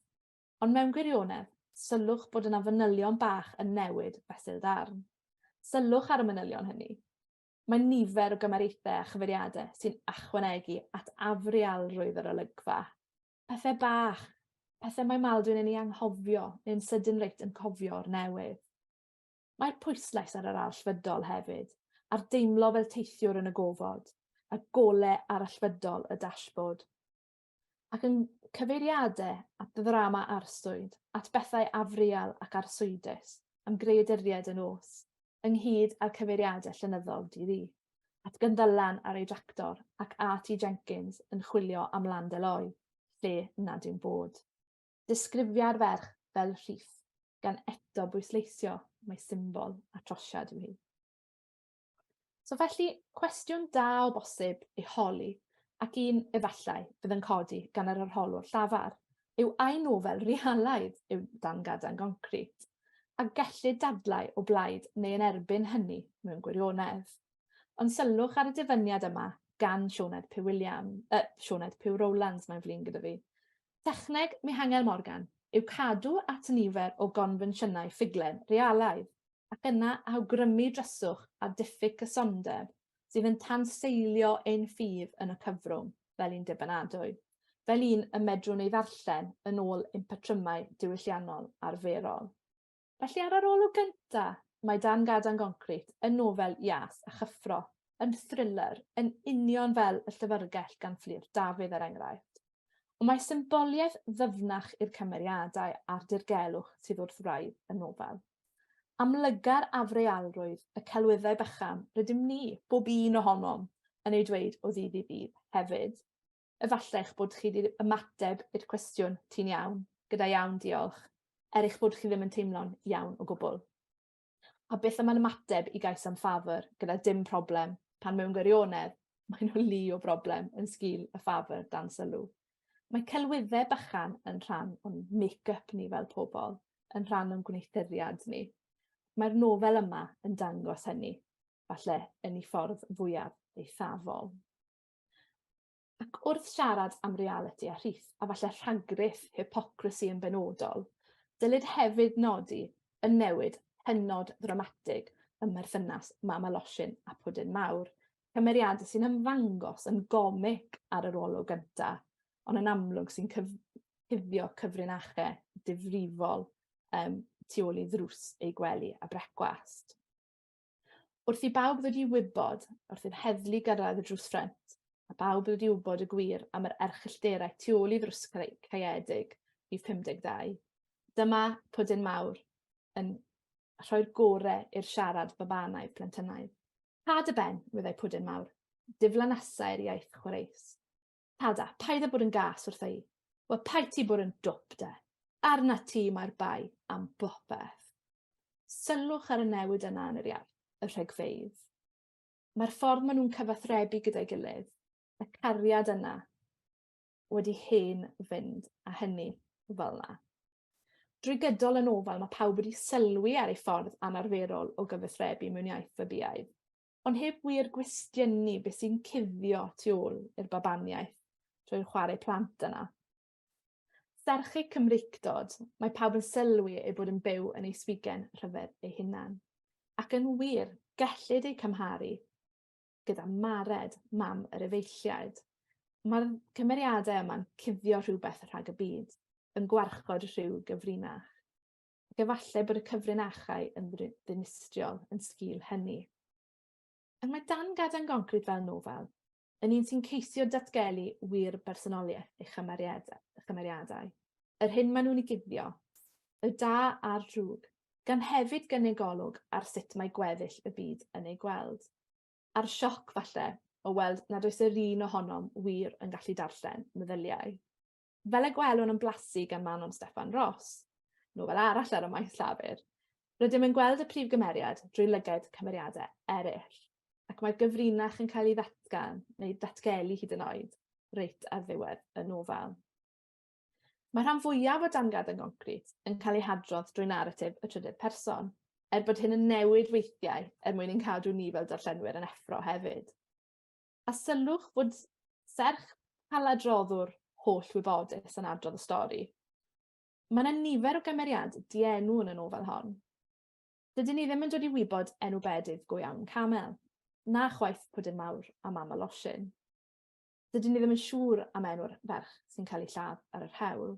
Ond mewn gwirionedd, sylwch bod yna fanylion bach yn newid fesul darn. Sylwch ar y manylion hynny. Mae nifer o gymariaethau a chyfeiriadau sy'n achwanegu at afrialrwydd yr olygfa. Pethau bach, pethau mae Maldwyn yn ei anghofio neu'n sydyn reit yn cofio o'r newydd. Mae pwyslais ar yr allfydol hefyd, a'r deimlo fel teithiwr yn y gofod, y golau arallfydol y dashboard. ac yn cyfeiriade at ddrama arswyd, at bethau afriel ac arswydus, am greaduriaid y nos, ynghyd â'r cyfeiriade llenyddol Di Ddu, at Gynddylan ar ei dractor ac at i Jenkins yn chwilio am Land Eloy, lle nad yw'n bod. Disgrifia'r ferch fel rhif, gan eto bwysleisio mai symbol a trosiad yw hi. So felly, cwestiwn da o bosib ei holi, ac un efallai fydd yn codi gan yr arholwr llafar, yw ai nofel realaidd yw dan gadan goncrit, a gellid dadlau o blaid neu yn erbyn hynny mewn gwirionedd. Ond sylwch ar y dyfyniad yma gan Sioned Pugh William, uh, Sioned Pugh Rowlands, mae'n flin gyda fi. Techneg Mihangel Morgan yw cadw at nifer o gonfensiynau ffuglen realaidd, ac yna awgrymu dryswch a diffyg cysondeb sydd yn tanseilio ein ffydd yn y cyfrwng fel un dibynadwy, fel un y medrwn ei ddarllen yn ôl ein patrymau diwylliannol arferol. Felly ar yr olwg gyntaf, mae Dan Gadan Goncrit yn nofel ias a chyffro, yn thriller, yn union fel Y Llyfrgell gan Fflur Dafydd er enghraifft. Ond mae symboliaeth ddyfnach i'r cymeriadau a'r dirgelwch sydd wrth wraidd y nofel. Amlygar afrealrwydd y celwyddau bychan rydym ni, bob un ohonom, yn ei dweud o ddydd i ddydd, hefyd. Efallai eich bod chi wedi ymateb i'r cwestiwn 'Ti'n iawn? gyda 'Iawn, diolch', er eich bod chi ddim yn teimlo'n iawn o gwbl. A beth am ymateb i gais am ffafr gyda 'Dim problem', pan mewn gwirionedd, maen nhw lu o broblem yn sgil y ffafr dan sylw? Mae celwyddau bychan yn rhan o'n make-up ni fel pobl, yn rhan o'n gwneuthuriad ni. Mae'r nofel yma yn dangos hynny, falle yn ei ffordd fwyaf eithafol. Ac wrth siarad am reality a rhith, a falle rhagruth, hypocrisy yn benodol, dylid hefyd nodi y newid hynod ddramatig ym merthynas Mama Losin a Pwdin Mawr, cymeriadau sy'n ymddangos yn gomic ar yr olwg gyntaf, ond yn amlwg sy'n cyf cuddio cyfrinachau difrifol um, tu ôl i ddrws ei gwely a brecwast. Wrth i bawb ddod i wybod, wrth i'r heddlu gyrraedd y drws ffrent, a bawb ddod i wybod y gwir am yr erchyllterau tu ôl i ddrws caeedig i 52. Dyma Pwdin Mawr yn rhoi'r gorau i'r siarad babanaidd, plentynaidd. Pa dy ben, wyddai Pwdin Mawr. Diflanasai'r iaith chwareus. Tada, paid â bod yn gas wrtha i. Wel, paid ti bod yn dwp, de. Arna ti mae'r bai am bopeth. Sylwch ar y newid yna yn yr iaith, y rhegfeydd. Mae'r ffordd maen nhw'n cyfathrebu gyda'i gilydd, y cariad yna, wedi hen fynd a hynny fel yna. Drwy gydol y nofel mae pawb wedi sylwi ar ei ffordd anarferol o gyfathrebu mewn iaith fabiaidd, ond heb wir gwestiynu beth sy'n cuddio tu ôl i'r babaniaeth drwy'r chwarae plant yna. Serch eu Cymreictod, mae pawb yn sylwi eu bod yn byw yn ei swigen rhyfedd eu hunan. Ac yn wir, gellid eu cymharu gyda Mared, mam yr efeilliaid. Mae'r cymeriadau yma'n cuddio rhywbeth rhag y byd, yn gwarchod rhyw gyfrinach. Ac efallai bod y cyfrinachau yn ddinistriol yn sgil hynny. Ac mae Dan Gaden Goncrit fel nofel, yn un sy'n ceisio datgelu wir bersonoliaeth ei chymeriadau, yr hyn maen nhw'n ei guddio, y da a'r drwg, gan hefyd gynnig golwg ar sut mae gweddill y byd yn ei gweld. a'r sioc falle o weld nad oes yr un ohonom wir yn gallu darllen meddyliau. Fel y gwelwn yn blasu gan Manon Steffan Ross, nofel arall ar y maes llafur, rydym yn gweld y prif gymeriad drwy lyged cymeriadau eraill, ac mae'r gyfrinach yn cael ei ddatgan neu datgelu hyd yn oed, reit ar ddiwedd y nofel. Mae rhan fwyaf o dan gadwyn concrit yn cael ei hadrodd drwy naratif y trydydd person, er bod hyn yn newid weithiau er mwyn ein cadw ni fel darllenwyr yn effro hefyd. A sylwch fod serch paladroddwr holl wybodus yn adrodd y stori. Mae yna nifer o gymeriad dienw yn y nofel hon. Dydyn ni ddim yn dod i wybod enw bedydd go iawn Camel, na chwaith Pwdin Mawr a Mam y Losin. dydyn ni ddim yn siŵr am enw'r ferch sy'n cael ei lladd ar yr hewl.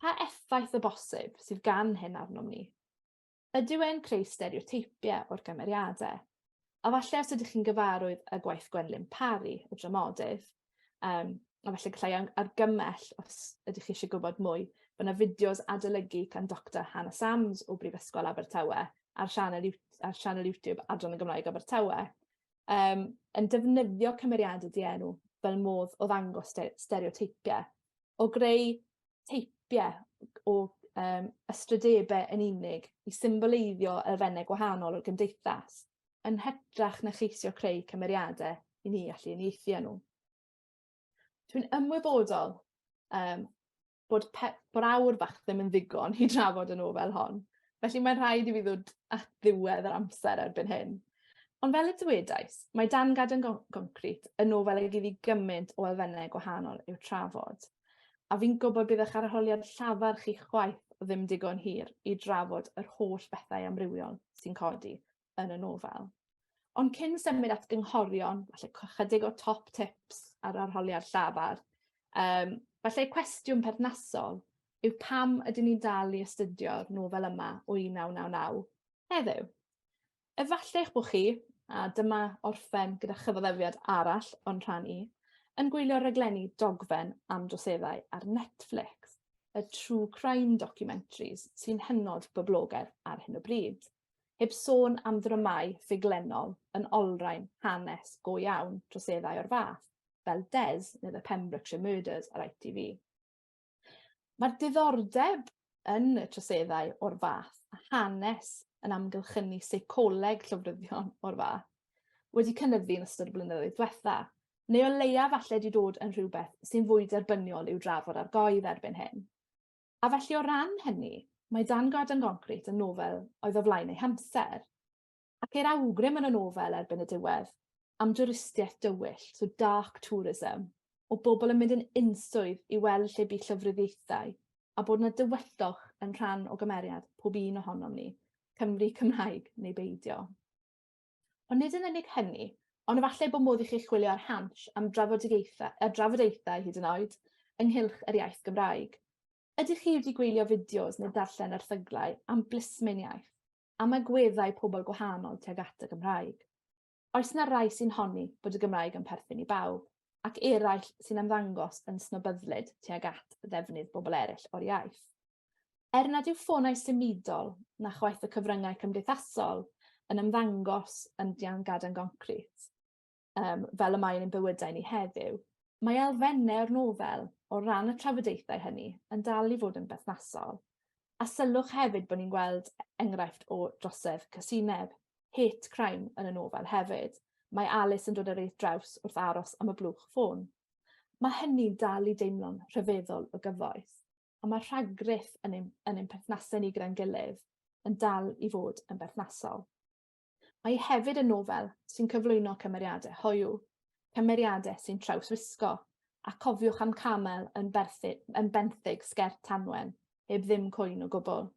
Pa effaith o bosib sydd gan hyn arnom ni? Ydyw e'n creu stereoteipiau o'r gymeriadau? A falle os ydych chi'n gyfarwydd â gwaith Gwenlyn Parry, y dramodydd, um, a falle gallai argymell os ydych chi eisiau gwybod mwy, bod yna fideos adolygu gan Dr Hannah Sams o Brifysgol Abertawe ar sianel, ar sianel YouTube Adran y Gymraeg Abertawe. um, yn defnyddio cymeriadau dienw fel modd o ddangos stereoteipiau, o greu teipiau o um, ystrydebau yn unig i symboleiddio elfennau gwahanol o'r gymdeithas, yn hytrach na cheisio creu cymeriadau i ni allu unieithu nhw. Dwi'n ymwybodol um, bod, pe, bod awr fach ddim yn ddigon i drafod y nofel hon. Felly mae'n rhaid i fi ddod at ddiwedd yr amser erbyn hyn. Ond fel y dywedais, mae Dan Gadon Goncrit yn nofel ag iddi gymaint o elfennau gwahanol i'w trafod. A fi'n gwybod bydd eich arholiad llafar chi chwaith ddim digon hir i drafod yr holl bethau amrywiol sy'n codi yn y nofel. Ond cyn symud at gynghorion, falle chydig o top tips ar arholiad llafar, um, falle cwestiwn perthnasol yw pam ydyn ni'n dal i astudio'r nofel yma o 1999 heddiw. Efallai eich bod chi, a dyma orffen gyda chyfoddefiad arall o'n rhan i, yn gwylio raglenni dogfen am droseddau ar Netflix, y true crime documentaries sy'n hynod boblogaidd ar hyn o bryd. Heb sôn am ddramâu ffuglenol yn olrhain hanes go iawn troseddau o'r fath, fel Des neu The Pembrokeshire Murders ar ITV. Mae'r diddordeb yn y troseddau o'r fath a hanes yn amgylchynu seicoleg llofruddion o'r fath wedi cynyddu yn ystod y blynyddoedd diwetha, neu o leia falle wedi dod yn rhywbeth sy'n fwy derbyniol i'w drafod ar goedd erbyn hyn. A felly o ran hynny, mae Dan Gwlad yn Goncrit yn nofel oedd o flaen ei hamser. Ac ceir awgrym yn y nofel erbyn y diwedd am dwristiaeth dywyll, so dark tourism, o bobl yn mynd yn unswydd i weld lle bu llofruddiaethau, a bod yna dywyllwch yn rhan o gymeriad pob un ohonom ni, Cymry Cymraeg neu beidio. Ond nid yn unig hynny, ond efallai bod modd i chi chwilio ar Hansh am drafodaethau, a drafodaethau hyd yn oed, ynghylch yr iaith Gymraeg. Ydych chi wedi gwylio fideos neu darllen erthyglau am blismyn iaith, am agweddau pobl gwahanol tuag at y Gymraeg? Oes na rai sy'n honni bod y Gymraeg yn perthyn i bawb, ac eraill sy'n ymddangos yn snobyddlyd tuag at ddefnydd bobl eraill o'r iaith? Er nad yw ffonau symudol na chwaith y cyfryngau cymdeithasol yn ymddangos yn gaden goncrit, um, fel y mae'n ein bywydau ni heddiw, mae elfennau o'r nofel o ran y trafodaethau hynny yn dal i fod yn berthnasol. A sylwch hefyd bod ni'n gweld enghraifft o drosedd cysineb, hate crime yn y nofel hefyd. Mae Alice yn dod ar eith draws wrth aros am y blwch ffôn. Mae hynny'n dal i deimlo'n rhyfeddol o gyfoeth. a mae'r rhagryff yn ein, yn ein perthnasau ni gyda'n gilydd yn dal i fod yn berthnasol. Mae hi hefyd yn nofel sy'n cyflwyno cymeriadau hoiw, cymeriadau sy'n trawswisgo, a cofiwch am camel yn, berthu, yn benthyg sgert tanwen, heb ddim cwyn o gwbl.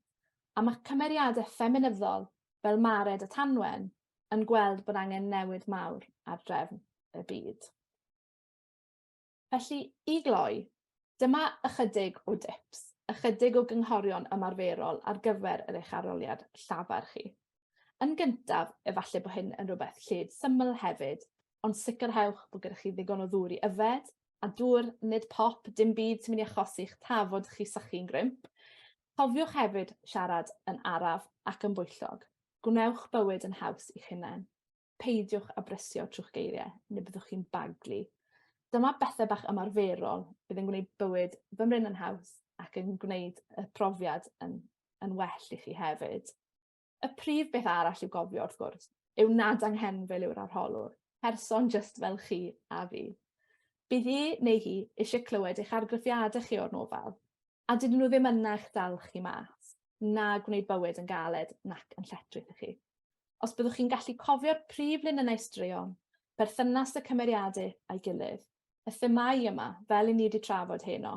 A mae cymeriadau ffeminyddol fel Mared a Tanwen yn gweld bod angen newid mawr ar drefn y byd. Felly, i gloi, dyma ychydig o dips, ychydig o gynghorion ymarferol ar gyfer yr eich arholiad llafar chi. Yn gyntaf, efallai bod hyn yn rhywbeth lled syml hefyd, ond sicrhewch bod gyda chi ddigon o ddŵr i yfed, a dŵr, nid pop, dim byd sy'n mynd i achosi'ch tafod chi sychu'n grymp. Cofiwch hefyd siarad yn araf ac yn bwyllog. Gwnewch bywyd yn haws i'ch hunain. peidiwch â brysio trw'ch geiriau neu byddwch chi'n baglu. Dyma bethau bach ymarferol fydd yn gwneud bywyd fy mryn yn haws ac yn gwneud y profiad yn, yn well i chi hefyd. Y prif beth arall i'w gofio, wrth gwrs, yw nad anghenfil yw'r arholwr, person just fel chi a fi. Bydd hi neu hi eisiau clywed eich argraffiadau chi o'r nofel, A dydyn nhw ddim yna i'ch dal chi mas, na gwneud bywyd yn galed nac yn lletchwith i chi. Os byddwch chi'n gallu cofio'r prif linynnau straeon, perthynas y cymeriadau a'i gilydd, y themâu yma, fel i ni wedi trafod heno,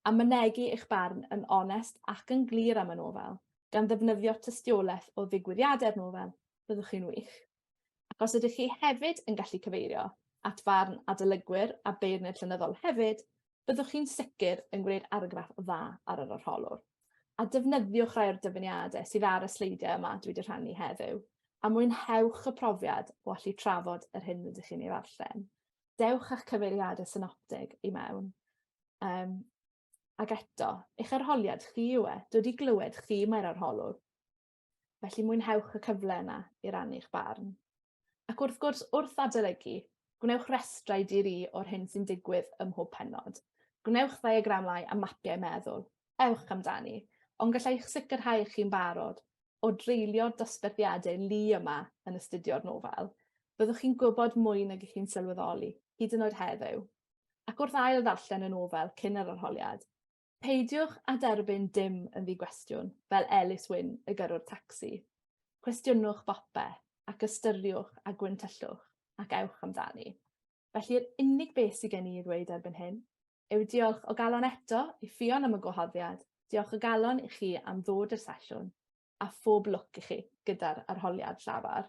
a mynegi eich barn yn onest ac yn glir am y nofel, gan ddefnyddio tystiolaeth o ddigwyddiadau'r nofel, byddwch chi'n wych. Ac os ydych chi hefyd yn gallu cyfeirio at farn adolygwyr a beirniaid llenyddol hefyd, byddwch chi'n sicr yn gwneud argraff dda ar yr arholwr. A defnyddiwch rai o'r dyfyniadau sydd ar y sleidiau yma dwi wedi rhannu heddiw, a mwynhewch y profiad o allu trafod yr hyn rydych chi'n ei ddarllen. Dewch â'ch cyfeiriadau synoptig i mewn. Um, ac eto, eich arholiad chi yw e, dod i glywed chi mae'r arholwr. felly mwynhewch y cyfle yna i rannu'ch barn. Ac wrth gwrs, wrth adolygu, gwnewch restrau di-ri o'r hyn sy'n digwydd ym mhob pennod. Gwnewch ddiagramau a mapiau meddwl, ewch amdani, ond gallai'ch sicrhau eich chi'n barod, o dreulio dosberthiadau lu yma yn astudio'r nofel, byddwch chi'n gwybod mwy nag ych chi'n sylweddoli, hyd yn oed heddiw. Ac wrth ail ddarllen y nofel cyn yr arholiad, Peidiwch â derbyn dim yn ddi-gwestiwn, fel Ellis Wyn, y gyrrwr tacsi. Cwestiynwch bopeth, ac ystyriwch a gwyntyllwch, ac ewch amdani. Felly yr unig beth sydd gen i i ddweud erbyn hyn yw diolch o galon eto i Ffion am y gwahoddiad, diolch o galon i chi am ddod i'r sesiwn, a phob lwc i chi gyda'r arholiad llafar.